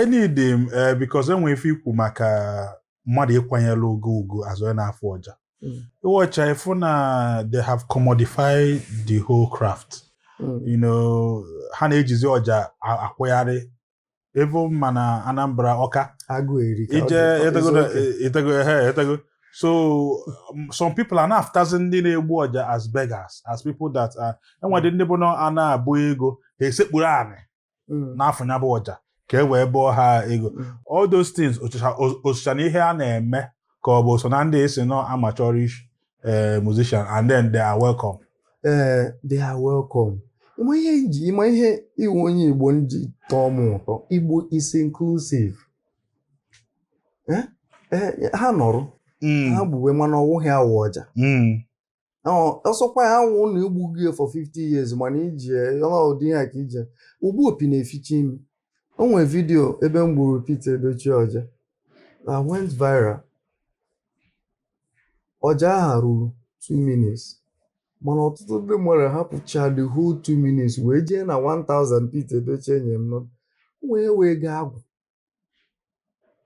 enidi m ee eh, because enwe ife ikwu maka mmadụ ịkwanyere ugwu ugwu as onye na-afụ ọja hmm. ịwọcha ịfụ na they have commodified the whole craft hmm. you know ha na-ejizi ọja akwụgharị even ma na Anambra Ọka ije etego etego so um, some people na-afụtazi ndị na-egbu ọja as beggars as people that are enwedị ndị bụ na a na-abụ ego ha esekpuru anị mm. na-afụ ya bụ ọja ka e wee bụọ ha ego mm. all those things o socha na ihe a na-eme ka ọ bụ so na ndị esi nọ amateurish eh, musician and then they are welcome. ee eh, they are welcome ịma ihe nji ịma ihe ịwụ onye Igbo nji tọọ m ụtọ Igbo is inclusive eh, ha nọrọ hmm. ha gbuwe mana ọ wụghị ya wụ ọja hmm. ọ sọkwa ya wụ na i gbugo ya for 50 years mana ije ọdị ya ka ije ogbu opi na-eficha imi o nwere vidiyo ebe m gburu Peter Edochie ọja na went viral ọja aha ruru 2 minutes mana ọtụtụ ndị mmadụ hapụcha the whole 2 minutes wee jee na 1000 Peter Edochie nye m wee wee gaa agwụ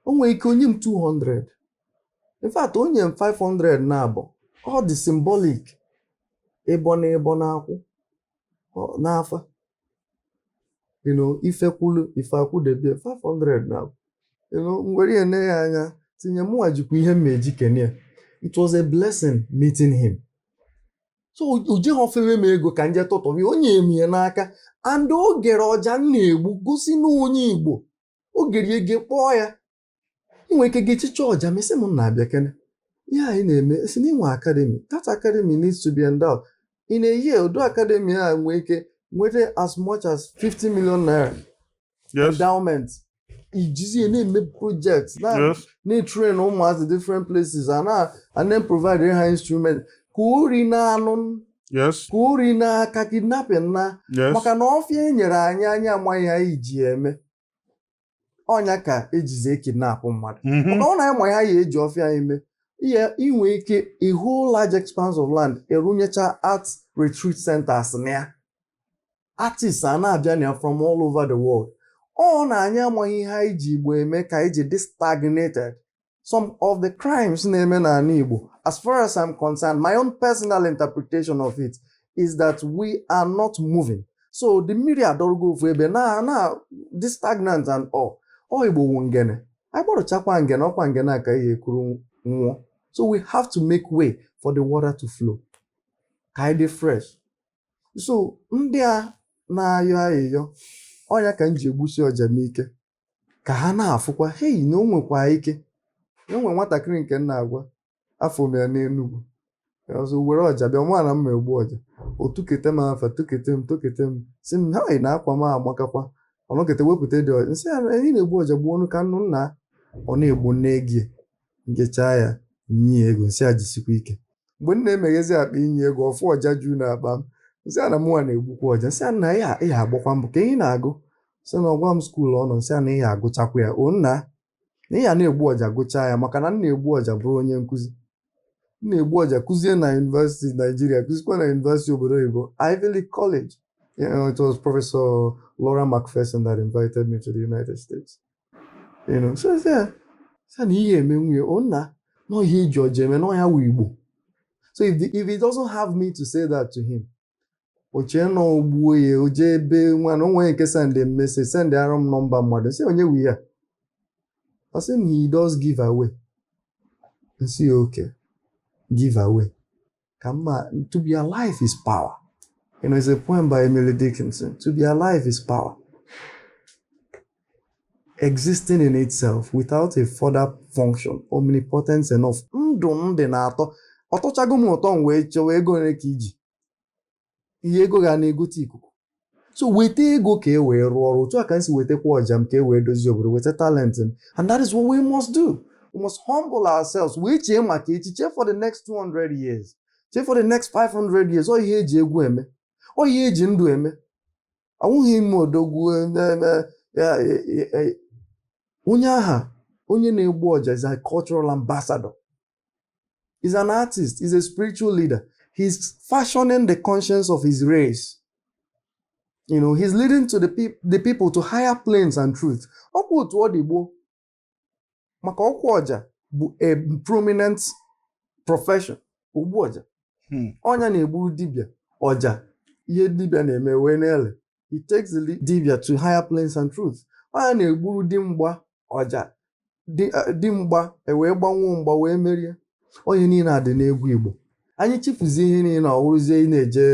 o nwere ike o nye m 200 in fact o nye m 500 naabọ ọ dị symbolic ịbọ na ịbọ n'akwụ ọ- n'afa you know ife kwụlụ ife akwụdebe ya 500 naabọ you know m were ya nee ya anya tinye mụnwa jikwa ihe m ma eji kene ya it was a blessing meeting him so o jeghị o fewe m ego ka m je tụtụba ya o nye m ya n'aka and o gere ọja m na-egbu gosi na onye Igbo o gere ege kpọọ ya inwe ike gechicha ọja m sị m nna bịakene ihe anyị na-eme si na inwe academy that academy needs to be endowed in a year ụdị academy a nwee ike nweta as much as 50 million naira endowment i jizi ya na-eme project na-etrain ụmụazị different places and then provide ha instrument ka ori naa nụ ka ori naa ka kidnapping naa maka na ọfịa e nyere anyị anyị amaghị ihe anyị ji ya eme ọ nya ka e jizi ekidnapụ mmadụ mhm. maka ọ na anyị ma ha ya eji ọfịa anyị mee ihe inwe ike a whole large expanse of land a rụnyecha art retreat centers na ya artists a na-abịa na ya from all over the world ọ na anyị amaghị ihe anyị ji Igbo eme ka anyị ji dị stagnated some of the crimes na-eme n'ala Igbo as far as i'm concerned my own personal interpretation of it is that we are not moving so the mmiri adọrọgo ofu ebe na na dị stagnant and all ọ Igbo wụ ngene anyị gbarụchakwa ngene ọ kwa ngene a ka a ya-ekuru ṅụọ so we have to make way for the water to flow ka anyị dị fresh so ndị a na-ayọ ayịyọ ọ ya ka m ji egbusi ọja m ike ka ha na-afụkwa hei na o nwekwa ike na o nwere nwatakịrị nke m na-agwa afụ m ya n'Enugwu ọzọ were ọja bịa nwa na m na-egbu ọja o tukete m afa tukete m tukete m sị m ha na akwa m agbakakwa ọ nọkete wepụtadị ọja m sị ya na ị na-egbu ọja gbuonụ ka m nụ nna ọ na-egbu m na-ege ya m gechaa ya nye ya ego m sị ya jisikwa ike mgbe m na-emeghezi akpa ịnye ego ọ fụ ọja juu na akpa m m sị ya na mụnwa na-egbukwa ọja m sị ya na ị ya-agbakwa mbọ ka ị ya na-agụ sị na ọ gwa m school ọ nọ m sị ya na ị ya-agụchakwa ya o nna na ị ya na-egbu ọja gụchaa ya maka na m na-egbu ọja bụrụ onye nkụzi m na-egbu ọja kụzie na university nigeria kụzikwa na university obodo oyibo ivy league college you know, it was professor laura mcpherson that invited me to the united states You know, so sị ya sị na ị ya-emenwu ya o nna na ihe e ji ọja eme na ọ ya wụ igbo so if, the, if he doesn't have me to say that to him o chee na o gbuo ya o jee ebe nwa na o nwee nke sendị m message sendịara m nọmba mmadụ m sị onye wụ ya ọ sị na he does give away m sị ya okay give away kama to be alive is power. You know, it's a poem by Emily Dickinson. To be alive is power. Existing in itself without a further function, omnipotence enough. Ndụ m dị na-atọ, ọ tọchago m ụtọ m wee chọwa ego ole ka i ji. ihe ego ga na-egote ikuku so weta ego ka e wee rụọ ọrụ otu a ka m si wetakwa ọja m ka e wee dozie obodo weta talent m and that is what we must do we must humble ourselves wee chee maka echi chee for the next 200 years chee for the next 500 years ọ ihe e ji egwu eme ọ ihe e ji ndụ eme awụghị ime odogwu onye aha onye na-egbu ọja is a cultural ambassador He's an artist, he's a spiritual leader. He's fashioning the conscience of his race. You know, he's leading to the, pe the people to higher planes and truth. Ọkwa otu ọ dị gboo maka ọkwa ọja bụ a prominent profession ogbu ọja hmm. ọ ya na-egburu dibịa ọja ihe dibịa na-eme wee na-ele he takes the dibịa to higher planes and truth ọ ya na-egburu di mgba ọja di eh, mgba ewee gbanwuo mgba wee merie ọ ihe niile a dị n'egwu igbo anyị chefuzie ihe niile na ọ wụrụzie ị na-eje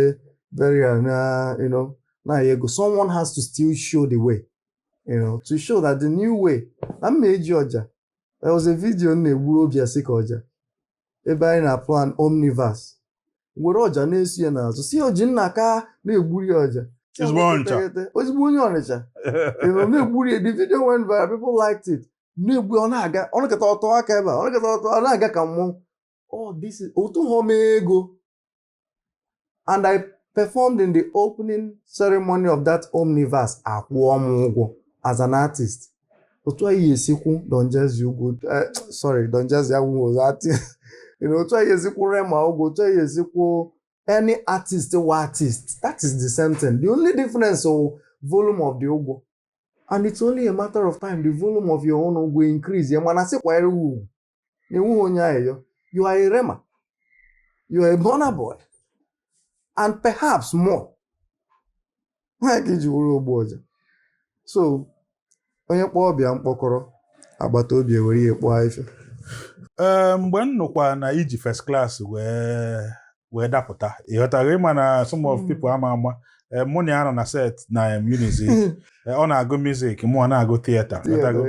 burial na you know na ego someone has to still show the way you know to show that the new way na m na-eji ọja there was a video m na-egburu obi asika ọja ebe anyị na-aplan omniverse were ọja na-eso ya n'azụ sị ya ojinnaka na-egburu ya ọja ezigbo ọnịcha ezigbo onye ọnịcha na-egburu ya the video went viral people liked it m na-egbu ọ na-aga ọ nọkata ọ tụọ aka ebe a ọ nọkata ọ tụọ ọ na-aga ka mmụọ oh this is otu ha ọma ego and I performed in the opening ceremony of that omniverse akwụọ m ụgwọ as an artist otu ahụ e si akwụ Don Jazzy ụgwọ eh, sorry Don Jazzy awụghịzi artist otu ahụ e si akwụ Rema ụgwọ otu ahụ e si akwụ any artist wụ artist that is the same thing the only difference ọ volume of the ụgwọ and it's only a matter of time the volume of your own ụgwọ increase ya mana sịkwanyere ugwu na ị wụghị onye ayịyọ you are a rema you are a burna boy and perhaps more ọnwa ka i ji wụrụ ogbu ọja so onye kpọọ ọba ya mkpọkọrọ agbata obi ewere ya kpoo ife ee mgbe m nụkwa na i ji first class wee wee dapụta ịghọtago ị ma na some of people ama ama eh, mụ na ya nọ na set na em, Unizik Eh, ọ na-agụ music mụ a na-agụ theatre ịghọtago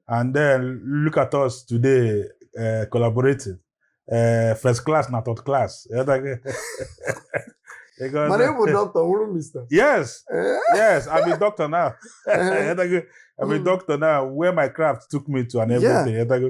and then look at us today uh, collaborating uh, first class na third class ịghọtago? Ịghọta? mana ị bụ dọkịta ị wụrọ mista yes yes i'm a doctor now ịghọtago? i'm a Mm. doctor now where my craft took me to and everything ịghọtago?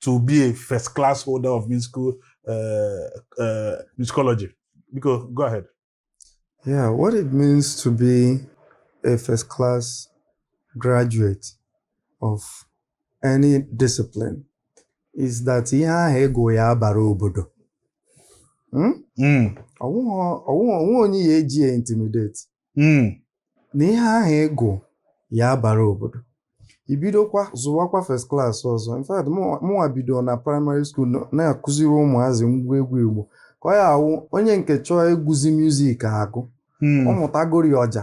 to be a first class holder of musical uh, uh, musicology. Because go ahead. Yeah, what it means to be a first class graduate of any discipline is that ihe ahụ ị gụ ya-abara obodo. Hmm? Hmm. o nweghị onye ị ya-eji ya intimidate hmm. na ihe ahụ ị gụ ya-abara obodo i bidokwa zụwakwa first class ọzọ in fact mụnwa bido na primary school na-akụziri ụmụazị ngwa egwu igbo ka ọ ya-awụ onye nke chọọ ịgụzi music agụ hmm. ọ mụtagori ọja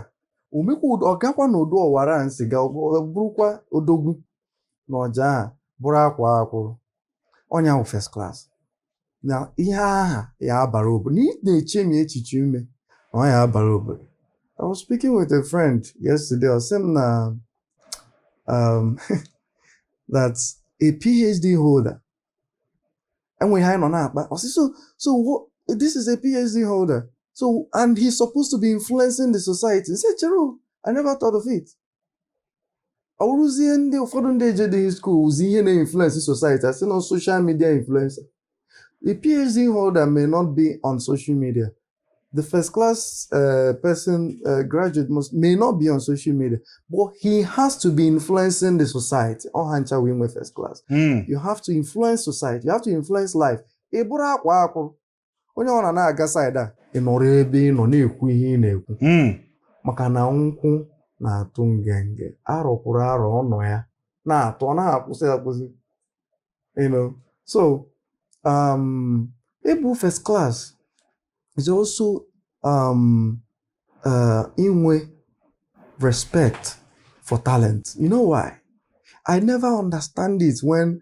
o mekwa ọ gakwa na ọdụ ọwara nsi ga bụrụkwa odogwu na ọja aha bụrụ akwaa akwụrụ onye wụ first class na ihe aha ya-abara obodo na ị na-echemi echiche ime na ọ ya-abara obodo I was speaking with a friend yesterday ọ sị m na um, that a PhD holder enwere ihe anyị nọ na-akpa ọ sị so so what, this is a PhD holder so and he's supposed to be influencing the society m sị chere o, I never thought of it ọ wụrụzie ndị ụfọdụ ndị ejedịghị school wụzi ha na-influence society asị na social media influencer the phd holder may not be on social media the first class uh, person uh, graduate must, may not be on social media but he has to be influencing the society ọ ha ncha wụ inwe first class mm. you have to influence society you have to influence life ị bụrụ akwaa akwụ onye ọ na na-aga side a ị nọrọ ebe ị nọ na-ekwu ihe ị na-ekwu hmm. maka na nkwụ na-atụ ngenge arọ kwuru arọ ọ nọ ya na-atụ ọ naha akwụsị akwụsị so um, ịbụ first class is also um, uh, inwe respect for talent you know why i never understand it when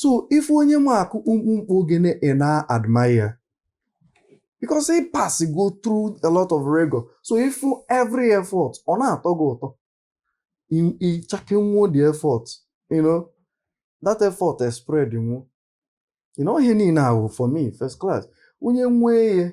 so ị fụ onye ma akụ kpumkpumkpu ogene ị na-admire because ị passịgo through a lot of rigor so ị fụ every effort ọ na-atọ gị ụtọ ị checkie nwuo the effort you know that effort is spread nwuo you know ihe niile ahụ for me first class onye nwee ya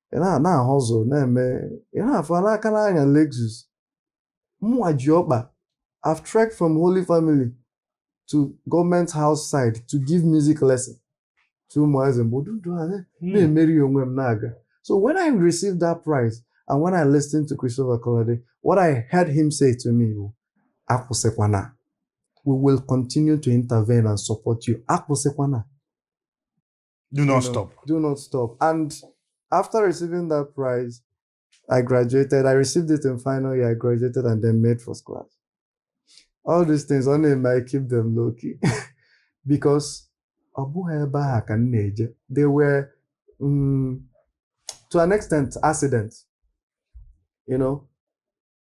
ị na-ahụ ụzọ na-eme ị na-afụ n'aka na-anya Lexus mụnwa ji ọkpa I've trekked from Holy Family to government house side to give music lesson to ụmụazị mgbe ududu a hmm. na-emeri onwe m na-aga so when I received that prize and when I listened to Christopher Kolade what I heard him say to me bụ akwụsịkwana we will continue to intervene and support you akwụsịkwana Do not you know, stop. Do not stop. And after receiving that prize, I graduated. I received it in final year. I graduated and then made first class. All these things, only I keep them low key because they were um, to an extent accidents. You know,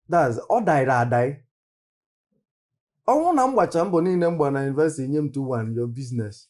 that's all died, I die. ọnwụ na m gbacha mbọ niile m gbara na yunivesiti nye m 2-1 your business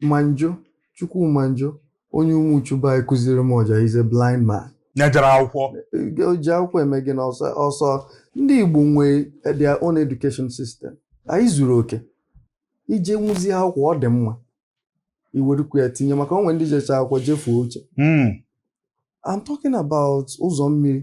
Manjo Chukwumanjo onye Umuchu be anyị kụziri m ọja he's a blind man onye jere akwụkwọ o ji akwụkwọ eme gịnị ọsọ ọsọ ndị Igbo nwe their own education system anyị zuru oke i je nwuzi akwụkwọ ọ dị mma i werukwu ya tinye maka o nwe ndị jecha akwụkwọ jefuo uche I'm talking about ụzọ mmiri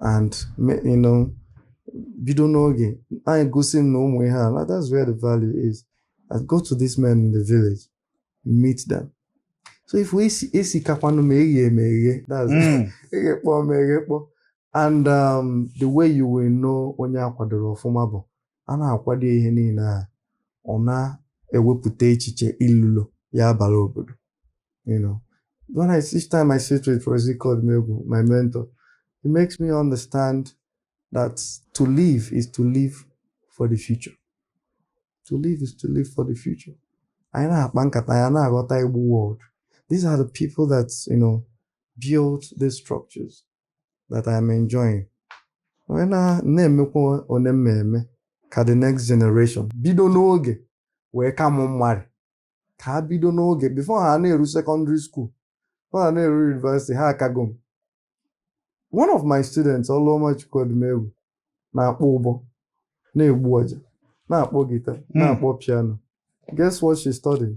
and me- you know bido n'oge anyị gosi m na ụmụ ihe a na that's where the value is I go to these men in the village meet them so ife esi esi kakwanụ mma eghe eme eghe that's Mm. eghekpọọ ma eghekpọọ and um, the way you will know onye akwadoro ọfụma bụ a na-akwado ihe niile a ọ na-ewepụta echiche ilulo ya-abara obodo you know when I each time I sit with Professor Ike Odimegwu my mentor it makes me understand that to live is to live for the future to live is to live for the future anyị na-akpa nkata ya na-aghọta Igbo world these are the people that you know built these structures that I am enjoying wee na-emekwa one m ma-eme ka the next generation bido n'oge wee ka mụ mmadụ ka ha bido n'oge before ha na-eru secondary school before ha na-eru university ha akago m one of my students Ọlụọmachukwu Odimegwu na-akpọ ụbọ na-egbu ọja na-akpọ guitar hmm. na-akpọ piano guess what she studied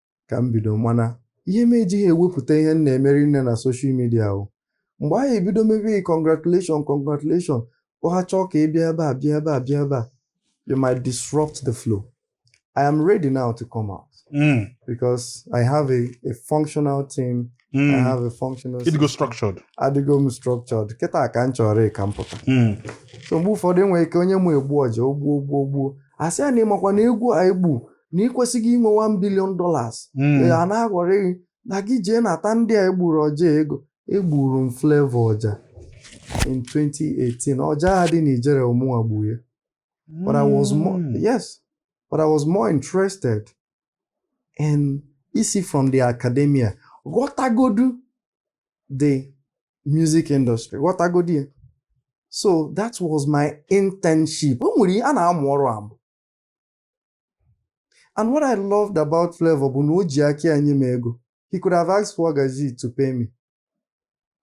ka m bido mana ihe m ejighị ewepụta ihe m na-eme rinne na social media ahụ mgbe anyị ebido mebe congratulation congratulation ọha chọọ ka ị bịa ebe a bịa ebe a bịa ebe a you might disrupt the flow I am ready now to come out mm. because I have a, a functional team mm. I hmm. have a functional ịdịgo structured adịgo m structured kịta ka m chọrọ ka m pụta hmm. so mgbe ụfọdụ e nwere ike onye mụ egbu ọja ogbuo ogbuo ogbuo a sị ya na ị makwa na egwu a i gbu na ị kwesịghị inwe 1 billion dollars hmm. a na-aghọrị gị na gị jee nata ndị a i gburu ọja ego egburu m Flavour ọja in 2018 ọja a dị n'Ijele ọ mụnwa gburu ya but I was more hmm. yes but I was more interested in isi from the academia ghọtagodu the music industry ghọtagodu ya so that was my internship o nwere a na-amụ ọrụ amụ And what I loved about Flavour bụ na o ji aka ya nye m ego. He could have asked Waga G to pay me.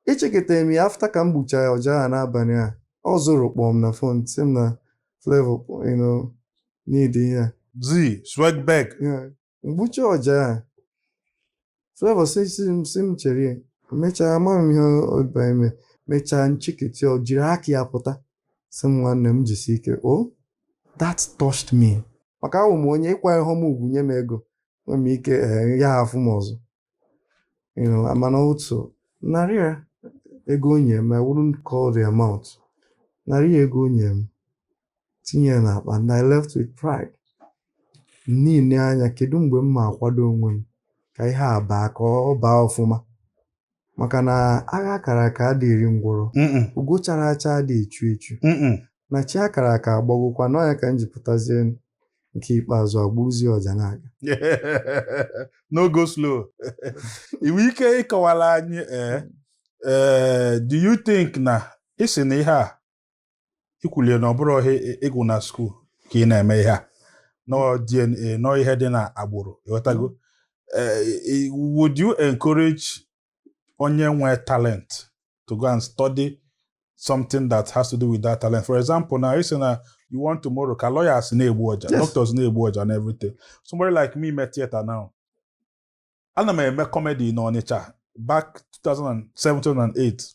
Echeketara m ya after ka m gbuchara ya ọja a n'abalị a. Ọ Zoro kpọọ m na phone sị m na Flavour you know, need ihe a. Z, Swagbag, Yeah. m gbucha ọja a Flavour sị sị m sị m chere ya mechaa ama m ihe ọ ba eme mechaa m chekete o jiri aka ya pụta sị m nwanne m jisi ike o that touched me maka abụ m onye ị kwanyehọ m ugwu nye m ego nwere m ike ị ya afụ m ọzọ you know amana otu narị ya ego o nye m I wouldn't call the amount narị ya ego o nye m tinye ya n'akpa and I left with pride na-ele anya kedu mgbe m ma akwado onwe m ka ihe a baa ka ọ baa ọfụma maka na agha a kara aka adịghị eri ngwọrọ Mm-mm, ugo chara acha adịghị echu echu mm-mm. na chi a kara aka abọgokwa na ọ ya ka m ji pụtazie nke ikpeazụ e gbuzie ọja na-aga no go slow i nwe ike ịkọwara anyị ee ee do you think na ị sị na ihe a i kwulie na ọ bụrọ ihe ị gụ na school ka ị na-eme ihe a na ọ DNA na ọ ihe dị n'agbụrụ ị ghọtago Eh, eh, would you encourage onye nwee talent to go and study something that has to do with that talent for example now ị sị na you want tomorrow ka lawyers na-egbu ọja Yes. doctors na-egbu ọja and everything somebody like me me theatre now ana m eme comedy n'Ọnịcha back 2007 2008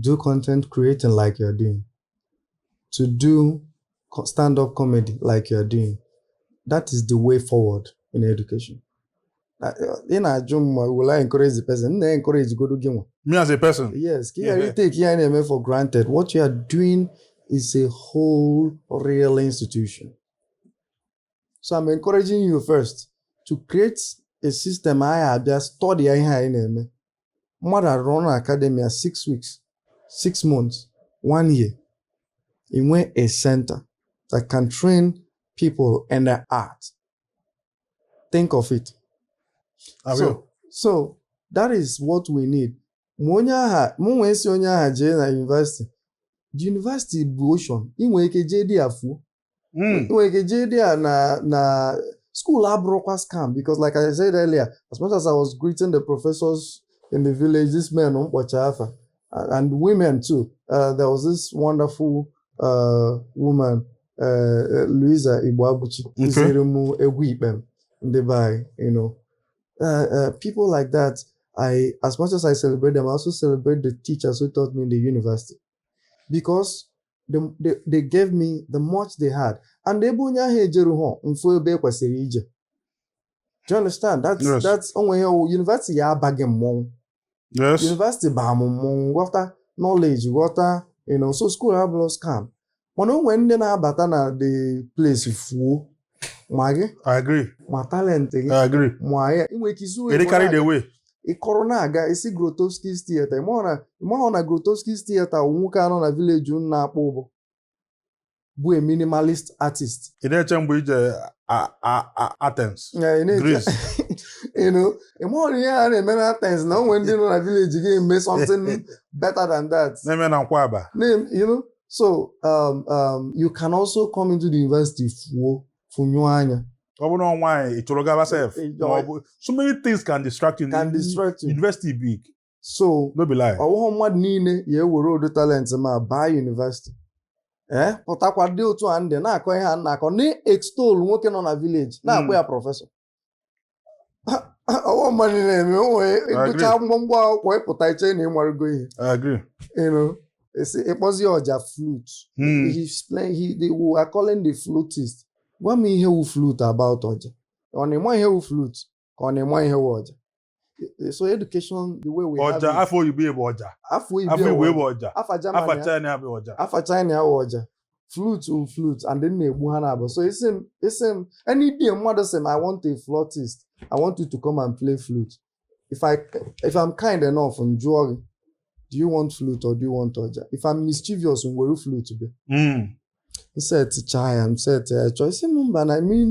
do content creating like you're doing, to do stand up comedy like you're doing. That is the way forward in education. ị na-ajụ m ma will I encourage the person? m na-encourage godu gị nwa. Me as a person? Yes, ka ị ghara itake ihe ị na-eme for granted. What you are doing is a whole real institution. So I'm encouraging you first to create a system anyị abịa study ihe anyị na-eme mmadụ arun academy ya six weeks six months one year i nwee a center that can train people in the art think of it so, so that is what we need ma onye aha mụ nwee sị onye aha jee na university university bụ ocean ị nwere ike jee dị ya fuo Hmm. nwere ike jee dị ya na na school abụrụkwa scam because like I said earlier as much as I was greeting the professors in the village this men mkpọcha afa and women too uh, there was this wonderful uh, woman uh, uh Louisa Igbo Abuchi kụziri m egwu ikpem ndị be anyị you know uh, uh, people like that I, as much as I celebrate them, I also celebrate the teachers who taught me in the university. Because they gave me the much they had and ebe onye ahụ ejeru ha mfu ebe e kwesịrị ije do you understand that's yes. that's o nwe ihe university ya-aba gị mmọnwụ yes university baa m mmọnwụ ghọta knowledge ghọta you know so school abụrọ scam mana o nwere ndị na-abata na the place fuo ma gị I agree. ma talent gị I agree. ma ya inwe ike izu Eri carry the way. ị kọrọ na-aga ị sị Grotowski's Theatre ị mahụ na ị mahụ na Grotowski's Theatre wụ nwoke a nọ na village unu na-akpọ ụbọ bụ a minimalist artist Ị na-eche mgbe ije a- a- a- Athens, Ya, ị na-eche- Greece. you know, ị mahụ na ihe a na-eme na Athens na o nwere ndị nọ na village gị eme something better than that Na-eme na nkwaba. Na-em- you know, so um, um, you can also come into the university fuo funyụọ anya ọ bụrụ na nwaanyị ị chụrụ gaba sef ma ọ bụ so many things can distract you can distract you university big so no be lie ọ wụghụ mmadụ niile ya-ewere ụdị talent ma baa university ee eh, pụtakwa dị otu a ndị na-akọ ihe a na-akọ na-extol nwoke nọ na village na-akpọ hmm. ya professor ọ wụ mmadụ na-eme onwe ị gụcha mgbamgba akwụkwọ ị pụta i che na ị marụgo ihe esi ị kpọzi ọja flute hmm. he explain he they were calling the flutist gwa m ihe wụ flute about ọja ọ na ị ma ihe wụ flute ka ọ na ị ma ihe wụ ọja Eh, so education the way we ọja, have ọja afa oyibo bụ ọja afa igbo bụ ọja afa china bụ ọja afa china bụ ọja flute wụ flute and ndị na-egbu ha na-abụ so ị sị m ị sị m any day mmadụ sị m i want a flautist i want you to come and play flute if i if i'm kind enough m jụọ gị do you want flute or do you want ọja if i'm mischievous m were flute bịa m hmm. setichaa ya m seti ya chaa ị sị m mba na i mean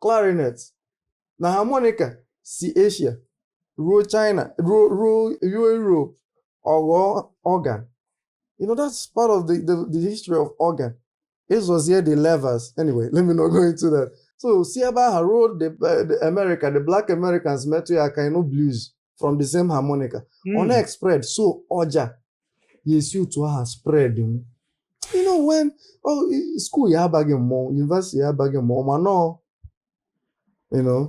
clarinet na harmonica si Asia ruo China ruo ruo ruo Europe ọ ghọọ organ you know that's part of the the, the history of organ ị zọzie the levers anyway let me not go into that so si ebe ahụ ruo the, uh, the America the black Americans metụ ya aka ị nụ blues from the same harmonica hmm. ọ na-spread so ọja ya esi otu ahụ spread m you know when oh, school ya abaghị mmọnwụ university ya abaghị mmọnwụ ma nọọ you know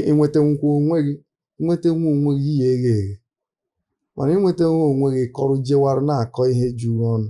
ịnweta nkwa onwe gị nweta nwa onwe gị ihe eghe eghe mana ịnweta nwa onwe gị kọrọ jewara na-akọ ihe juru ọnụ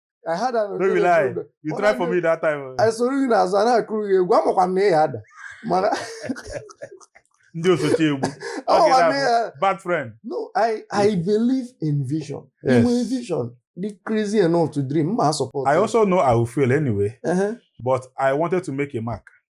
I had an no be lie you try for me that time eh? anyị soro gị n'azụ a na-akụrụ gị egwu amakwa m na ị ya-ada mana ndị osochi egwu bad friend no I I believe in vision yes. i nwee vision dị crazy enough to dream m a-support I also know I will fail anyway uh -huh. but I wanted to make a mark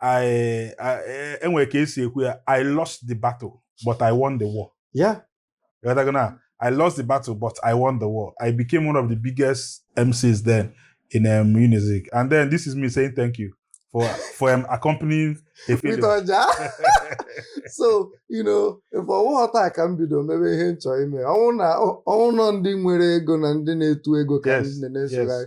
I, I, e- e nwere ka esi ekwu ya I lost the battle but I won the war yeah Ịghọtago na? I lost the battle but I won the war I became one of the biggest MCs then in Unizik and then this is me saying thank you for for um, accompanying a with failure. ọja so you know mfe ọ wụghọ taa ka m bido mebe ihe m chọrọ ime ọ wụ na ọ wụ nọọ ndị nwere ego na ndị na-etu ego ka Yes, ndị na-esogharị